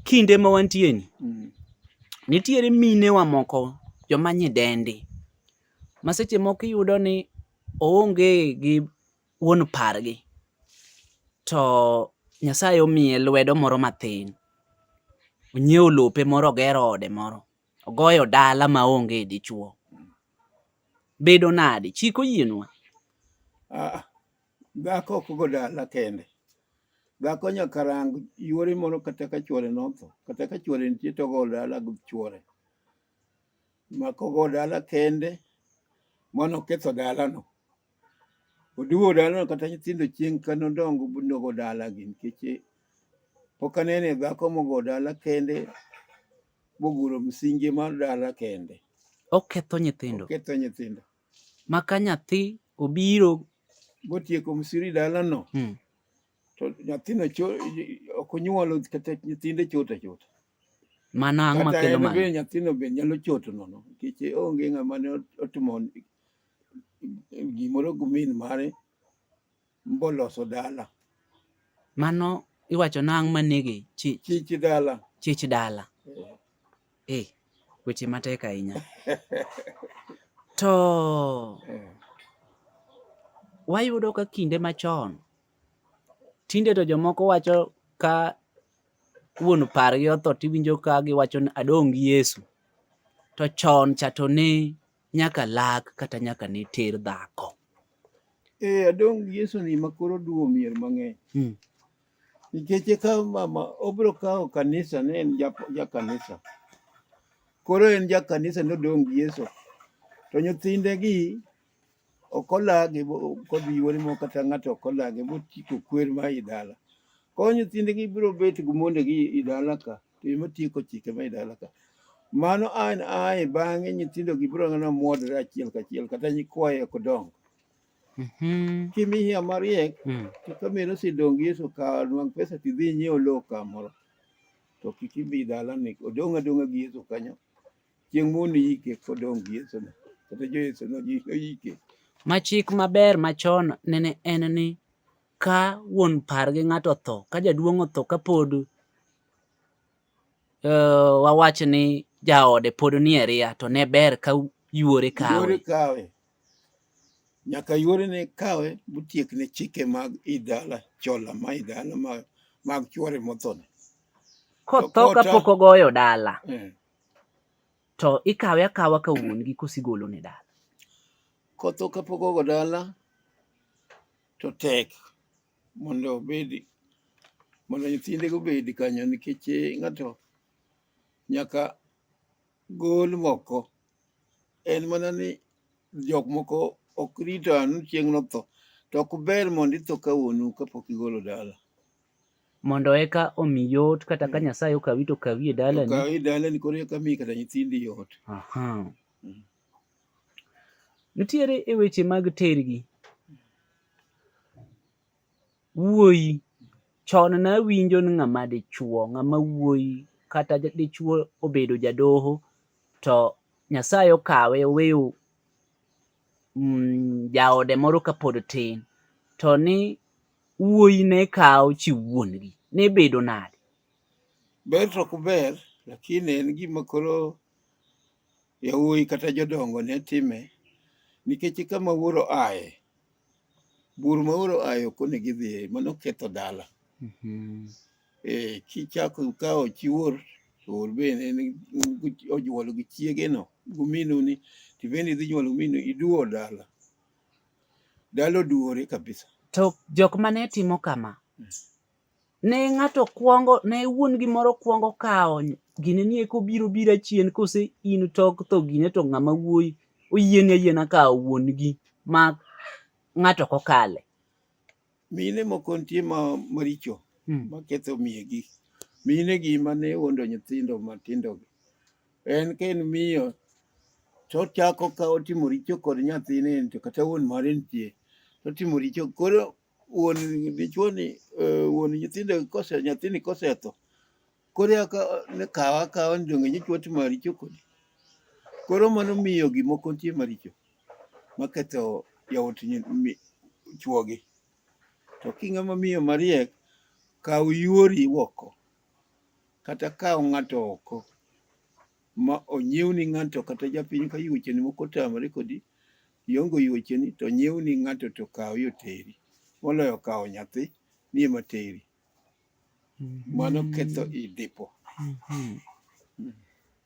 kinde ma wantie ni mm. nitiere mine wa moko joma nyidendi ma seche moko iyudo ni oonge gi wuon pargi to Nyasaye omiye lwedo moro mathin onyiewo lope moro ogero ode moro ogoyo dala ma onge dichuo bedo nadi chik oyienwa ah, Dhako ok go dala kende. Dhako nyaka rang yuore moro kata ka chuore notho. Kata ka chuore nitie to ogo dala gi chuore. Ma kogo dala kende, mano oketho dalano. Oduwo dalano kata nyithindo chieng' ka nodongo nogo dalagi nikech eh, pok anene dhako mogo dala kende moguro msingi mar dala kende. Oketho nyithindo. Oketho nyithindo. ma ka nyathi obiro motieko msiri dalano hmm. to nyathino ok onyuolo kata nyithinde chota chota mano ang'o makelo mano bende nyathino be nyalo choto nono nikech onge ng'ama ne otimo gimoro gi min mare mboloso dala mano iwacho nang' manege chich chich dala chich dala eh, eh weche matek ahinya to eh. wayudo ka kinde machon tinde to jomoko wacho ka wuon pargi otho tiwinjo ka giwacho ni adong' gi Yesu to chon cha to ne nyaka lak kata nyaka ne ter dhako. Eh, adong Yesu ni makoro duo mier mang'eny. Hmm. Nikech e kawo mama, obiro kawo kanisa ne en ja kanisa. Koro en ja kanisa ne odong gi Yesu. To nyithinde gi ok olagi kodhi yuore mo kata ng'ato ok olagi botieko kwer ma i dala. Koro nyithinde gi biro bet gi monde gi i dala ka. to in matieko chike ma idala ka mano an ae bang'e nyithindo gi biro ng'ana mwodore achiel kachiel kata nyikwaye ok dongo Mhm. kimiya mariek Mm. to ka meno sidong yeso ka nwang pesa tidhi nyiewo lowo kamoro to kik ibi dala ni odong' adong'a gi yeso kanyo chieng' mondo iyike kodong' gi yeso no kata jo yeso no ji- oyike Ma chik maber machon nene en ni ka wuon par gi ng'ato otho ka jaduong' otho ka pod uh, wawach ni jaode pod nie ria to ne ber ka yuore kawe kawe nyaka yuore ne kawe mutiek ne chike mag idala chola ma idala mag, mag chuore mothone kotho ka pok ogoyo dala eh. to ikawe akawa ka wuon gi kosigolo ne dala kotho ka pok ogo dala to tek mondo obed mondo nyithindego obed kanyo nikech eh, ng'ato nyaka gol moko en mana ni jok moko ok rito anu chieng' notho to ok ber mondo itho ka wuonu kapok igolo dala mondo eka omi yot kata ka mm. Nyasaye okawi to okawi e dalani okawi e dalani koro eka mi kata nyithindi yot Aha. Nitiere e weche mag tergi. Wuoyi, chon nawinjo ni ng'ama dichuo, ng'ama wuoyi kata dichuo obedo jadoho to Nyasaye okawe oweyo mm, jaode moro kapod tin to ni wuoyi ne kawo chi wuongi ne bedo nade? Ber to ok ber lakini en gima koro Yawuoyi kata jodongo ne time nikech kama wuoro aye bur ma wuoro aye ok onego idhiye mano ketho dala mhm. eh, kichako kawo chi wuor to wuor bende onyuolo gi chiegeno guminu ni to bende idhi nyuolo guminu iduwo dala dala oduwore kabisa to jok mane timo kama hmm. ne ng'ato kwongo ne wuon gimoro kwongo kawo gine ni eko biro bira chien kose in tok tho gine to ng'ama wuoyi oyieni ayiena kawo wuon gi ma ng'ato kokale mine moko nitie ma maricho hmm. maketho miye gi mine gi mane wuondo nyithindo matindo gi en ka en miyo to chako ka otimo richo kod nyathine to kata wuon mare nitie to otimo richo koro wuon dichuoni eh, wuon nyithindo kose nyathini kosetho koro eka ne kawa akawa ni donge nyichwa timo maricho kodi koro mano miyo gimoko nitie maricho maketho yawuot chuogi to kinga ma miyo mariek kaw yuori oko kata kaw ng'ato oko ma onyiewni ng'ato kata japiny ka yuocheni moko otamore kodi Iongo yuocheni to nyiewni ng'ato to kawo yo teri. Moloyo kawo nyathi ni ema teri. Mano ketho i dipo.